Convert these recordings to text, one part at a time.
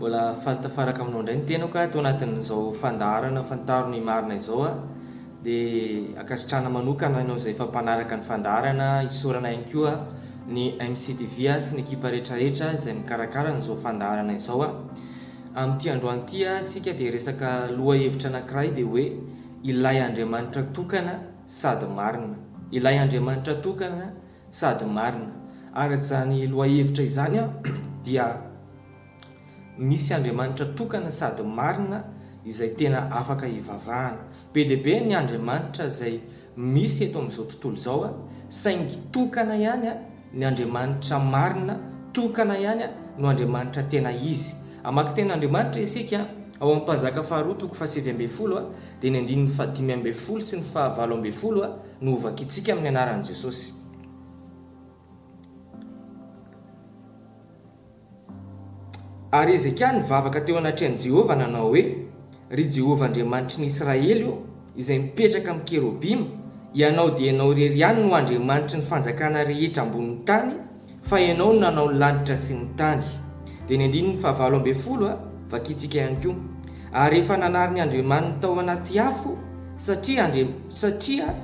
Mbola faly tafaraka aminao indray ny tenako ato anatin'izao fandaharana fantaro ny marina izao a. Dia ankasitrahana manokana anao izay efa mpanaraka ny fandaharana, isaorana ihany koa ny MCTV a sy ny ekipa rehetrarehetra izay mikarakara an'izao fandaharana izao a. Amin'ity androany ity a isika dia hiresaka lohahevitra anankiray dia hoe ilay Andriamanitra tokana. sady marina. Ilay Andriamanitra tokana sady marina. Araka izany lohahevitra izany aho dia misy Andriamanitra tokana sady marina izay tena afaka hivavahana. Be dia be ny Andriamanitra izay misy eto amin'izao tontolo izao saingy tokana ihany. Ny Andriamanitra marina, tokana ihany no Andriamanitra tena izy. Hamaky tena Andriamanitra isika ao amin'ny Mpanjaka faharoa toko fahasivy ambin'ny folo dia ny andininy fahadimy ambin'ny folo sy ny fahavalo ambin'ny folo no hovakintsika amin'ny anaran'i Jesosy. Ary Hezekia nivavaka teo anatrehan'i Jehovah nanao hoe, Ry Jehovah Andriamanitry ny Israely ô, izay mipetraka amin'ny kerobima, ianao dia ianao irery ihany no Andriamanitry ny fanjakana rehetra ambonin'ny tany, fa ianao no nanao ny lanitra sy ny tany. Dia ny andininy fahavalo ambin'ny folo, vakintsika ihany koa. Ary efa nanary ny andriamaniny tao anaty afo, satria, satria,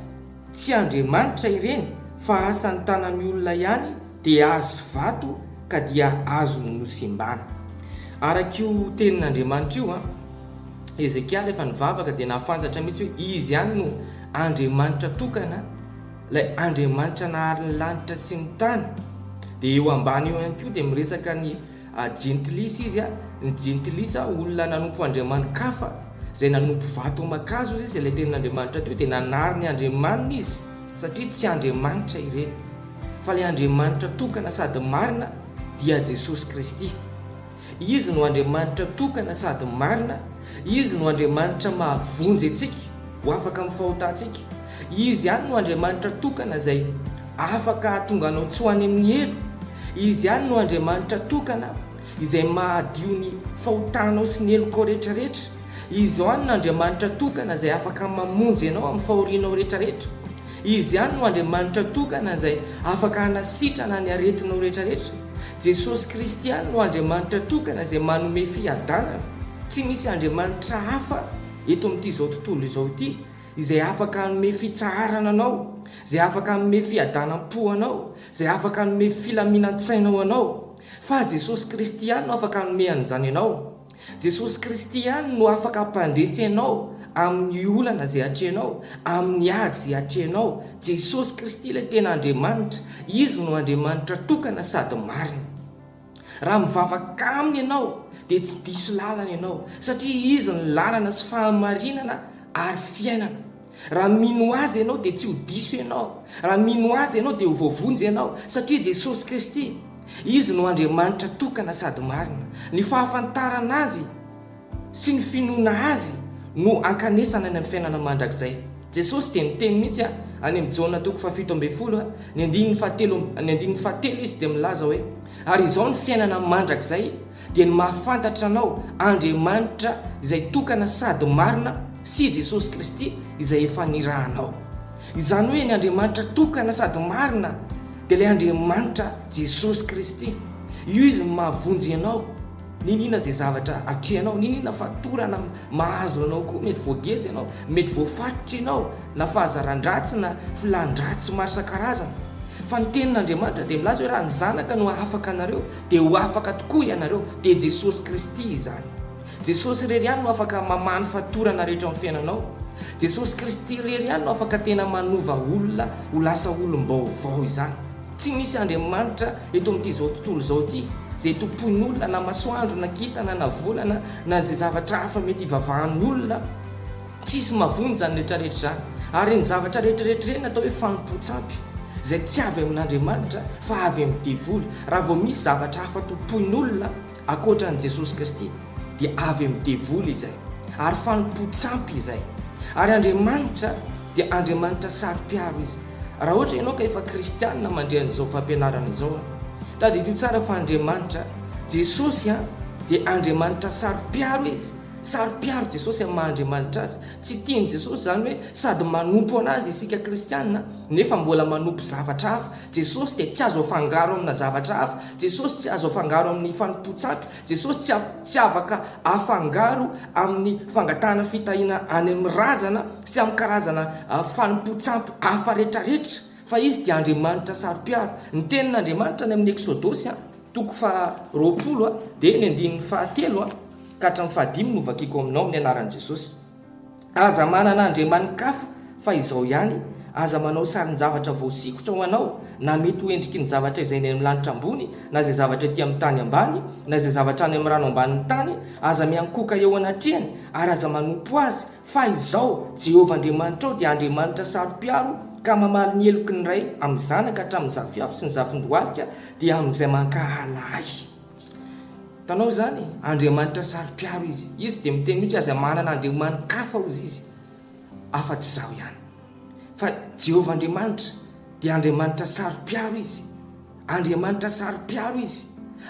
Tsy Andriamanitra ireny fa asan'ny tanan'ny olona ihany dia hazo sy vato ka dia azony nosembana. Araka io tenin'Andriamanitra io, Hezekia rehefa nivavaka dia nahafantatra mihitsy hoe izy ihany no Andriamanitra tokana, ilay Andriamanitra nahary ny lanitra sy ny tany. Dia eo ambany eo ihany koa dia miresaka ny Jentilisa izy, ny jentilisa olona nanompo andriamani-kafa, izay nanompo vato aman-kazo izy, izay ilay tenin'Andriamanitra teo dia nanary ny andriamaniny izy, satria tsy andriamanitra ireny, fa ilay Andriamanitra tokana sady marina dia Jesosy Kristy. Izy no Andriamanitra tokana sady marina, Izy no Andriamanitra mahavonjy antsika ho afaka amin'ny fahotantsika, Izy ihany no Andriamanitra tokana izay afaka hahatonga anao tsy ho any amin'ny helo. Izy ihany no Andriamanitra tokana izay mahadio ny fahotanao sy ny helokao rehetrarehetra. Izy ihany no Andriamanitra tokana izay afaka mamonjy anao amin'ny fahorianao rehetrarehetra. Izy ihany no Andriamanitra tokana izay afaka hanasitrana ny aretinao rehetrarehetra. Jesosy Kristy ihany no Andriamanitra tokana izay manome fiadanana. Tsy misy Andriamanitra hafa eto amin'ity izao tontolo izao ity. izay afaka hanome fitsaharana anao, izay afaka hanome fiadanam-po ho anao, izay afaka hanome filaminan-tsaina ho anao. Fa Jesosy Kristy ihany no afaka hanome an'izany anao. Jesosy Kristy ihany no afaka hampandresy anao amin'ny olana izay atrehinao, amin'ny ady izay atrehinao. Jesosy Kristy ilay tena Andriamanitra. Izy no Andriamanitra tokana sady marina. Raha mivavaka Aminy ianao, dia tsy diso lalana ianao, satria Izy ny lalana sy fahamarinana ary fiainana. Raha mino Azy ianao, dia tsy ho diso ianao. Raha mino Azy ianao, dia ho voavonjy ianao, satria Jesosy Kristy, Izy no Andriamanitra tokana sady marina. Ny fahafantarana Azy. sy ny finoana Azy no ankanesana any amin'ny fiainana mandrakizay. Jesosy dia niteny mihitsy any amin'ny Jaona toko fahafito ambin'ny folo, ny andininy fahatelo ny andininy fahatelo Izy dia milaza hoe, Ary izao ny fiainana mandrakizay, dia ny mahafantatra Anao, Andriamanitra izay tokana sady marina, sy Jesosy Kristy izay efa nirahanao. Izany hoe ny Andriamanitra tokana sady marina dia ilay Andriamanitra Jesosy Kristy. Io Izy no mahavonjy ianao. Niniana izay zavatra atrehanao, niniana fa torana mahazo anao koa, mety voageja ianao, mety voafatotra ianao, na fahazaran-dratsy na filan-dratsy maro isan-karazany. Fa ny Tenin'Andriamanitra dia milaza hoe raha ny Zanaka no hahafaka anareo, dia ho afaka tokoa ianareo, dia Jesosy Kristy izany. Jesosy irery ihany no afaka mamaha ny fatorana rehetra ao amin'ny fiainanao. Jesosy Kristy irery ihany no afaka tena manova olona ho lasa olom-baovao izany. Tsy misy Andriamanitra eto amin'ity izao tontolo izao ity, izay tompoin'olona, na masoandro, na kintana, na volana, na izay zavatra hafa mety hivavahan'ny olona. Tsisy mavony izany rehetrarehetra izany. Ary ny zavatra rehetrarehetra ireny atao hoe fanompoan-tsampy, izay tsy avy amin'Andriamanitra fa avy amin'ny devoly. Raha vao misy zavatra hafa tompoin'olona, Ankoatra an'i Jesosy Kristy dia avy amin'ny devoly izay, ary fanompoan-tsampy izay. Ary Andriamanitra dia Andriamanitra saro-piaro Izy. Raha ohatra ianao ka efa kristiana mandre an'izao fampianarana izao an, tadidio tsara fa Andriamanitra, Jesosy an, dia Andriamanitra saro-piaro Izy. Saro-piaro Jesosy amin'ny maha Andriamanitra Azy. Tsy tian'i Jesosy izany hoe sady manompo an'Azy isika kristiana nefa mbola manompo zavatra hafa. Jesosy dia tsy azo afangaro amina zavatra hafa, Jesosy tsy azo afangaro amin'ny fanompoan-tsampy, Jesosy tsy tsy afaka afangaro amin'ny fangatahana fitahiana any amin'ny razana sy amin'ny karazana fanompoan-tsampy hafa retraretra, fa Izy dia Andriamanitra saro-piaro. Ny tenin'Andriamanitra any amin'ny Eksodosy a, toko faha roapolo a, dia ny andininy faha telo a ka hatramin'ny faha dimy no vakiako aminao amin'ny anaran'i Jesosy. Aza manana andriamanin-kafa fa izao ihany, aza manao sarin-javatra voasikotra ho anao, na mety ho endriky ny zavatra izay any amin'ny lanitra ambony, na izay zavatra ety amin'ny tany ambany, na izay zavatra any amin'ny rano ambanin'ny tany, aza miankohoka eo anatrehany, ary aza manompo azy, fa izao, Jehovah Andriamanitrao dia Andriamanitra saro-piaro, ka mamaly ny heloky ny ray amin'ny zanaka hatramin'ny zafiafo sy ny zafin-dohalika, dia amin'izay mankahala ahy. Mpanao izany e! Andriamanitra saro-piaro izy. Izy dia miteny mihitsy hoe aza manana andriamani-kafa hozy izy afa-tsy izaho ihany. Fa Jehovah Andriamanitra dia Andriamanitra saro-piaro izy. Andriamanitra saro-piaro izy.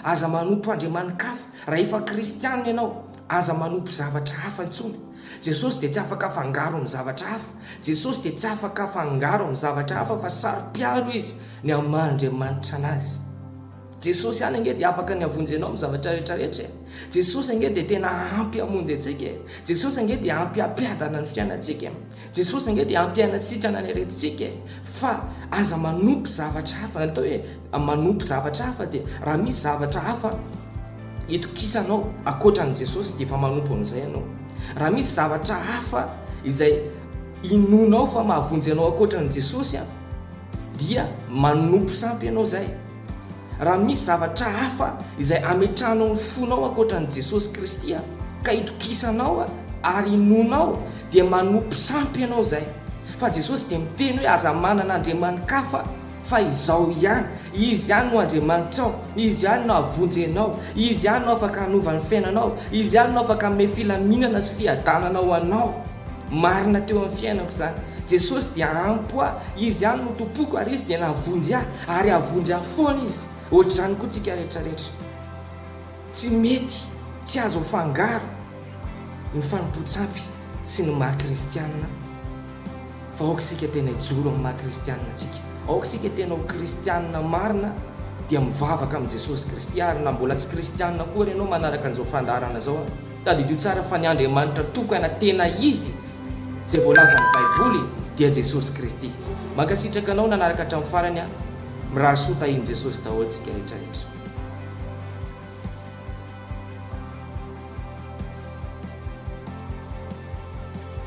Aza manompo andriamani-kafa. Raha efa kristiana ianao, aza manompo zavatra hafa intsony. Jesosy dia tsy afaka afangaro amin'ny zavatra hafa. Jesosy dia tsy afaka afangaro amin'ny zavatra hafa fa saro-piaro izy ny amin'ny maha Andriamanitra anazy. Jesosy ihany ange dia afaka ny havonjy anao amin'ny zavatra rehetra rehetra e! Jesosy ange dia tena ampy hamonjy antsika e! Jesosy ange dia ampy hampiadana ny fiainantsika e! Jesosy ange dia ampy hanasitrana ny aretintsika e! Fa aza manompo zavatra hafa, ny atao hoe manompo zavatra hafa dia raha misy zavatra hafa itokisanao ankoatra an'i Jesosy dia efa manompo an'izay ianao. Raha misy zavatra hafa izay inoanao fa mahavonjy anao ankoatra an'i Jesosy dia manompo sampy ianao izay. Raha misy zavatra hafa izay hametrahanao ny fonao ankoatra an'i Jesosy Kristy ka itokisanao ary inoanao dia manompo sampy ianao izay. Fa Jesosy dia miteny hoe aza manana andriamani-kafa fa izao ihany, Izy ihany no Andriamanitrao, Izy ihany no hahavonjy anao, Izy ihany no afaka hanova ny fiainanao, Izy ihany no afaka hanome filaminana sy fiadanana ho anao. Marina teo amin'ny fiainako izany. Jesosy dia ampy ahy, Izy ihany no Tompoko ary Izy dia nahavonjy ahy ary hahavonjy ahy foana Izy. Ohatr'izany koa tsika rehetra rehetra. Tsy mety, tsy azo afangaro ny fanompoan-tsampy sy ny maha kristianina fa aoka isika tena hijoro amin'ny maha kristianina antsika. Aoka isika tena ho kristianina marina dia mivavaka amin'i Jesosy Kristy ary na mbola tsy kristianina akory ianao manaraka an'izao fandaharana izao. Tadidio tsara fa ny Andriamanitra tokana tena izy izay voalazan'ny baiboly dia Jesosy Kristy. Mankasitraka anao nanaraka hatramin'ny farany an! Mirary soa tahin'i Jesosy daholo tsika rehetra rehetra.